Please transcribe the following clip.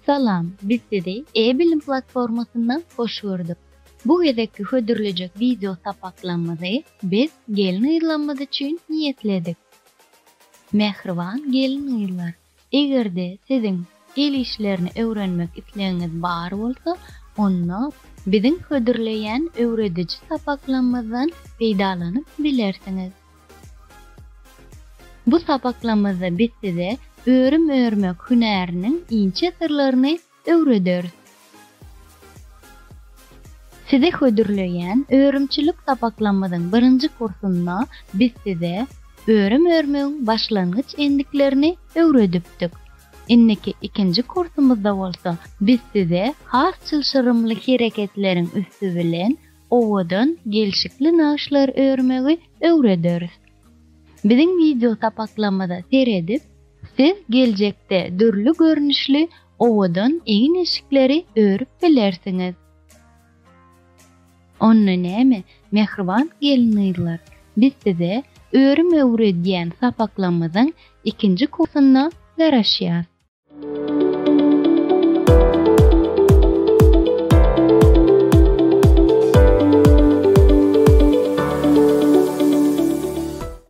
Salam, biz sizi e-bilim platformasynda hoş gördük. Bu gezekki hödürlejek wideo sapaklarymyzy biz gelin-gyzlarymyz üçin niýetledik. Mähriban gelin-gyzlar! Eger-de siziň el işlerini öwrenmek islegiňiz bar bolsa, onda biziň hödürleýän öwrediji sapaklamyzdan peýdalanyp bilersiňiz. Bu sapaklamyzda biz size örüm örmek hünäriniň inçe syrlaryny öwrederis. Size hödürleýän örümçilik sapaklamyzyň birinji kursunda biz size örüm örmegiň başlangyç endiklerini öwredipdik. Indiki ikinji kursumyzda bolsa biz size has çylşyrymly hereketleriň üsti bilen owadan gelşikli nagyşlar örmegi öwrederis. Biziň wideo sapaklarymyza seredip, siz geljekde dürli görnüşli owadan egin-eşikleri örüp bilersiňiz. Onda näme, mähriban gelin-gyzlar, biz size örüm öwredýän sapaklarymyzyň ikinji kursunda garaşýas.